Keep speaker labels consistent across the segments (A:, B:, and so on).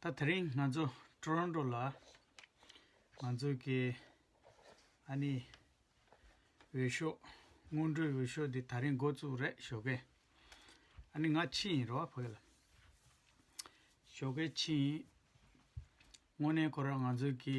A: ད་དེ་རིང་ང་ཚོ Toronto ལ་ང་ཚོ་གི་ཨ་ནི་འོས་ཤོག་སྔོན་འགྲོའི་འོས་ཤོག་འདི་ད་རིང་འགོ་བཙུགས་རེད་ཞོ་གས་ཨ་ནི་ང་ཕྱི་ཡིན་རོ་བྷ་གས་ལ་ཞོ་གས་ཕྱི་ཡིན་དངོས་གནས་ཁོ་རང་ང་ཚོ་གི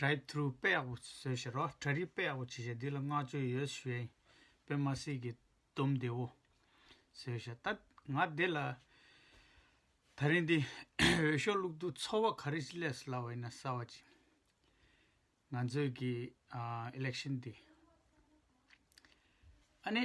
A: Drive Thru དཔེ་ཡག་པོ་བཟོས་ཞེས་རོགས་གྲྭ་རིགས་དཔེ་ཡག་པོ་བྱེད་ཞེས་འདི་ལ་བསྔགས་བརྗོད་ཡོད་བཞིན་དཔེ་མ་སྲིད་ཀྱི་དུམ་བདེ་བོ་བཟོས་ཞེས་ད་ང་འདི་ལ་ད་རིང་འདི་འོས་ཤོག་བླུག་དུས་ཚོར་བ་ག་རེ་ཞིག་ལས་སླ་བ་ཡིན་ན་གསར་བ་ཅིག་ང་ཚོས་ཀྱི Election འདི་ཨ་ནེ།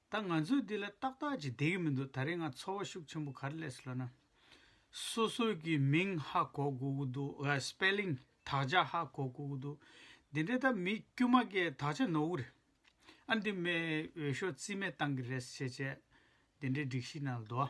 A: ད་ང་ཚོས་འདི་ལ་ཏག་ཏག་ཅིག་བསྡད་ཀྱི་མི་འདུག་ད་རེས་ང་ཚོར་བ་ཤུགས་ཆེན་པོ་ག་རེ་ལས་སོ་ལ་ན། སོ་སོ་ཀྱི་མིང་ཧ་གོ་དགོས་ཀྱི་འདུག་ཨ Spelling དག་ཆ་ཧ་གོ་དགོས་ཀྱི་འདུག་འདི་འདྲའི་ད་མི་དཀྱུས་མ་ཀའི་དག་ཆ་ནོར་བུ་རེད། ཨ་འདི་མའི་འོས་ཤོག་རྩིས་མེད་བཏང་གི་རེད་ཟེར་བྱས་བྱས་འདི་འདྲའི་སྒྲིག་གཞི་ནང་ལ་དུ་བ།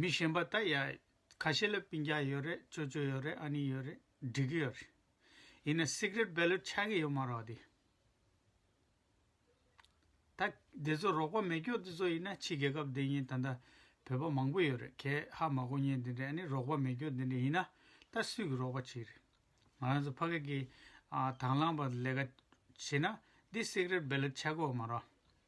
A: མི་གཞན་པ་ད་ཡ། ཁ་ཤས་ལ་སྤིན་རྒྱག་ཡོད་རེད་ཅོ་ཅོ་ཡོད་རེད་ཨ་ནི་ཡོད་རེད་འགྲིག་གི་ཡོད་རེད། ཡིན་ན Secret Ballot ཆགས་ཀྱི་ཡོད་མ་རོགས་དེ། ད་དེ་ཚོ་རོགས་པ་མེད་སྐྱོག་དེ་ཚོ་ཡིན་ན་ཕྱི་རྒྱལ་ཁབ་དེ་གཉིས་ད་ལྟ་བོད་པ་མང་པོ་ཡོད་རེད་གས་ཧ་མ་གོ་ཉེན་དེ་འདྲས་ཨ་ནི་རོགས་པ་མེད་སྐྱོག་དེ་འདྲས་ཡིན་ན་ད་སུས་ཀྱི་རོགས་པ་བྱེད་རེད། ང་རང་ཚོ་ཕ་སྐད་ཀྱི་དང་བླངས་པ་ལས་ཀ་བྱེད་ན་འདི Secret Ballot ཆགས་གི་འོ་མ་རོགས།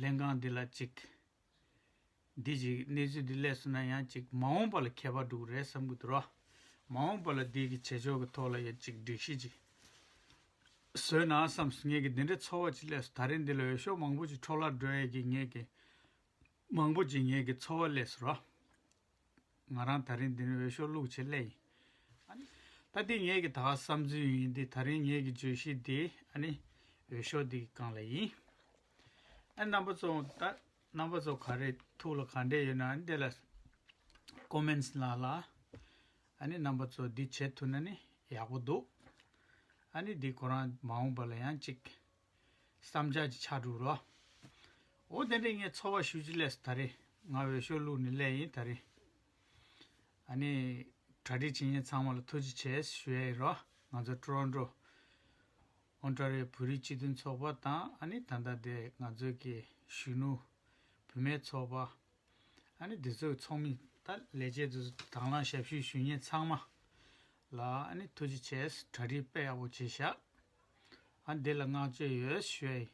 A: ལྷན་ཁང་འདི་ལ་ཅིག། འདི་ཅིག་གནས་ཚུལ་འདི་ལས་སུ་ན་ཡང་ཅིག་མ་འོངས་པ་ལ་ཁྱད་པར་འགྲོ་གི་རེད་བསམ་གི་འདུག་རོགས། མ་འོངས་པ་ལ་འདི་གི་བྱེད་ཕྱོགས་ཀྱི་ཐོག་ལ་ཡང་ཅིག་སྒྲིག་གཞི་ཅིག་བཟོས་ན་བསམ་སོང་ངེད་ཀྱི་འདི་འདྲའི་ཚོར་བ་ཅིག་ལས་སུ་ད་རེས་འདི་ལ་འོས་ཤོག་མང་པོ་ཅིག་འཕྲོ་བརླག་འགྲོ་ཡས་ཀྱི་ངེད་ཀྱི། མང་པོ་ཅིག་ངེད་ཀྱི་ཚོར་བ་ལས་སུ་རོགས། ང་རང་ད་རིང་འདི་རིང་འོས་ཤོག་བླུག་ཆེད་སླེབས་ཡིན། ཨ་ནི། ད་འདི་ངེད་ཀྱི་ད་བསམ་ཚུལ་ཡིན་འདི་ད་རིང་ངེད་ཀྱི་བརྗོད་གཞི་འདི་ཨ་ནི། འོས་ཤོག་འདི་གང་ལ་ཡིན། ཨ་ནི་རྣམ་པ་ཚོ་ད་རྣམ་པ་ཚོ་ག་རེ་ཐུགས་ལ་ག་འདྲེ་ཡོད་ན་ཨ་ནི་དེ་ལ Comments གནང་ལ། ཨ་ནི་རྣམ་པ་ཚོ་འདི་བྱེད་ཐུབ་ན་ནི་ཡག་པོ་འདུག། ཨ་ནི་འདི་ཁོ་རང་མ་འོངས་པ་ལ་ཡང་ཅིག། བསམ་འཆར་གྱི་ཕྱག་དྲུག་རོ། འོ་དེ་འདྲས་ངས་འཚོ་བ་ཞུ་ཅི་ལས་སོ་ད་རེས་ང་འོས་ཤོག་བླུག་ནས་སླེ་ཡིན་ད་རེས། ཨ་ནི། གྲ་སྒྲིག་བྱེད་མཁན་ཚང་མ་ལ་ཐུགས་རྗེ་ཆེ་ཞུ་ཡ་ཡི་རོ་ང་ཚོ་ཀྲོན་ཀྲོ། Ontario། བོད་རིགས་སྤྱི་མཐུན་ཚོགས་པ་དང་ཨ་ནི་ད་ལྟ་དེ་ང་ཚོའི་གི་གཞོན་ནུ། བུད་མེད་ཚོགས་པ། ཨ་ནི་དེ་ཚོའི་ཚོགས་མི་ད་ལས་བྱེད་དུ་དང་བླངས་ཞབས་ཞུ་ཞུ་མཁན་ཚང་མ། ལ་ནི་ཐུགས་རྗེ་ཆེ། གྲ་སྒྲིག་དཔེ་ཡག་པོ་བྱས་བཞག། ཨ་འདི་ལ་བསྔགས་བརྗོད་ཡོད་ཤོས།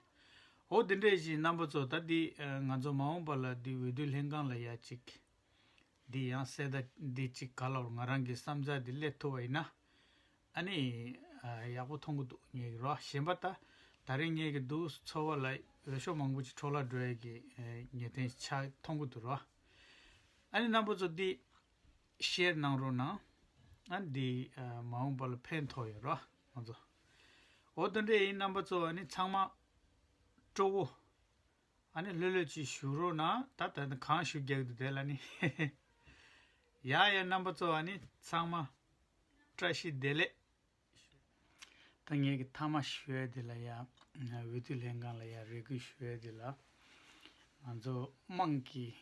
A: འོ་དེ་འདྲས་བཞིན་རྣམ་པ་ཚོ་ད་འདི་ང་ཚོ་མ་འོངས་པ་ལ་འདི་འོས་བསྡུ་ལྷན་ཁང་ལ་ཡ་གཅིག་འདི་ཡང་གསལ་ད་འདི་གཅིག་ག་ལ་བར་ང་རང་གི་བསམ་ཚག་འདི་སླེབས་ཐུབ་པ་ཡིན་ན་ཨ་ནི་ཡག་པོ་ཐོང་གི་འདུག་ངེས་ཀྱི་རོ་གཞན་པ་ད་ད་རིང་ངེས་ཀྱི་འདུག་ཚོ་བ་ལ་འོས་ཤོག་མང་པོ་ཅིག་འཕྲོ་བརླག་འགྲོ་ཡ་གི་ངེས་དེང་ཆ་ཐོང་གི་འདུག་རོ་ཨ་ནི་རྣམ་པ་ཚོ་འདི་བཤེར་གནང་རོགས་གནང། ཨ་འདི་མ་འོངས་པ་ལ་ཕན་ཐོག་ཡོད་རོགས་ང་ཚོ། འོ་ད་འདྲེ་ཡི་རྣམ་པ་ཚོ་ཨ་ནི་ཚང་མ། སྤྲོ་བོ། ཨ་ནི་ལྷོད་ལྷོད་ཅིག་བཞུགས་རོགས་གནང་ད་ད་ནི་གང་བཞུགས་རྒྱག་དུས་དེ་ལ་ནི། ཡ་ཡ་རྣམ་པ་ཚོ་ཨ་ནི་ཚང་མ། བཀྲ་ཤིས་བདེ་ལེགས། ཐ་སྙད་ཀྱི་མཐའ་མ་ཞུ་བ་དེ་ལ་ཡང་འོས་བསྡུ་ལྷན་ཁང་ལ་ཡང་རེ་སྐུལ་ཞུ་བ་དེ་ལ་ང་ཚོ་དམངས་ཀྱིས་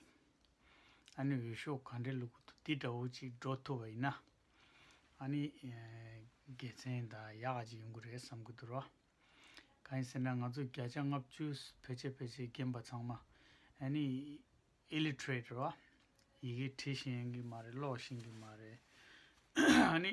A: ཨ་ནི་འོས་ཤོག་ག་འདྲའི་ལུགས་ཀྱི་འདི་འདྲ་བོ་ཅིག་འགྲོ་ཐུབ་པ་ཡིན་ན་ཨ་ནི་དགེ་མཚན་དང་ཡག་ག་ཅིག་ཡོང་གི་རེད་བསམ་གྱི་འདུག་ག་ཡིན་ཟེར་ན་ང་ཚོ་བརྒྱ་ཆ་ལྔ་བཅུ་ཕལ་ཆེར་ཕལ་ཆེར་རྒན་པ་ཚང་མ་ཨ་ནི Illiterate རེད་བ་ཡི་གེ་བྲི་ཤེས་ཀྱི་མ་རེད་ཀློག་ཤེས་ཀྱི་མ་རེད་ཨ་ནི་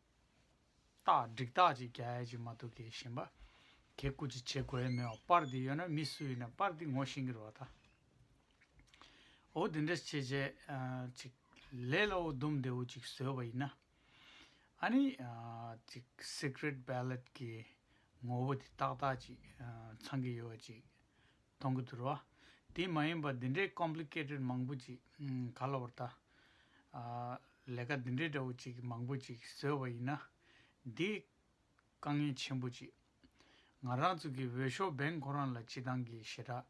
A: རྟགས་འགྲིག་རྟགས་ཅིག་རྒྱ་ཡལ་ཅིག་མ་ཐུག་གེ་ཞེན་པ། གེ་རྐུ་ཅིག་བྱེད་དགོས་ཡས་མེད་བ་པར་འདི་ཡོད་ན་མི་སུ་ཡིན་ན་པར་འདི་ངོ་ཤེས་ཀྱི་རོ་བ་ད། འོ་དེ་འདྲ་བྱེད་བྱས་ཅིག་ལས་ལ་འོ་དུམ་བདེ་བོ་ཅིག་བཟོས་བ་ཡིན་ན། ཨ་ནི། ཅིག Secret Ballot གི་ངོ་བོ་དེ་ཏག་ཏག་ཅིག་ཚང་གི་ཡོད་བ་ཅིག་མཐོང་གི་འདུག་རོ། དེ་མ་ཡིན་པར་འདི་འདྲའི Complicated མང་པོ་ཅིག་ག་ལ་བར་ད། ལས་ཀ་འདི་འདྲའི་འདྲ་བོ་ཅིག་མང་པོ་ཅིག་བཟོས་བ་ཡིན་ན། འདི། དཀའ་ངལ་ཆེན་པོ་ཅིག། ང་རང་ཚོ་གི་འོས་ཤོག Bank ཁོ་རང་ལ་སྤྱི་བཏང་གི་ཞེ་དྲགས་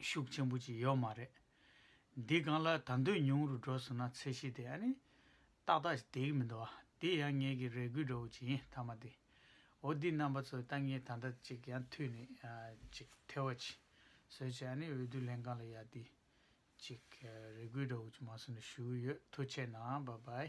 A: ཤུགས་ཆེན་པོ་ཅིག་ཡོད་མ་རེད། འདི་གང་ལ་ད་འདོད་ཉུང་རུ་འགྲོ་སོང་ན་ཚད་གཞི་དེ་ཨ་ནི། ཏག་ཏག་དེ་གི་མི་འདུག་བ། དེ་ཡང་ངེད་ཀྱི་རེ་སྒུག་འདྲ་བོ་ཅིག་ཡིན་མཐའ་མ་དེ། འོ་འདི་རྣམ་པ་ཚོའི་ལྟ་ངན་ད་འདྲ་ཅིག་ཡང་ཐོས་ནས་ཅིག་ཐལ་བ་ཅི་བཟོས་བྱས་ནས་འོས་བསྡུ་ལྷན་ཁང་ལ་ཡར་འདི་ཅིག་རེ་སྐུལ་འདྲ་བོ་ཅིག་མ་སོང་ནས་ཞུ་གི་ཡོད་ཐུགས་ཆེ་གནང་བ་བའི།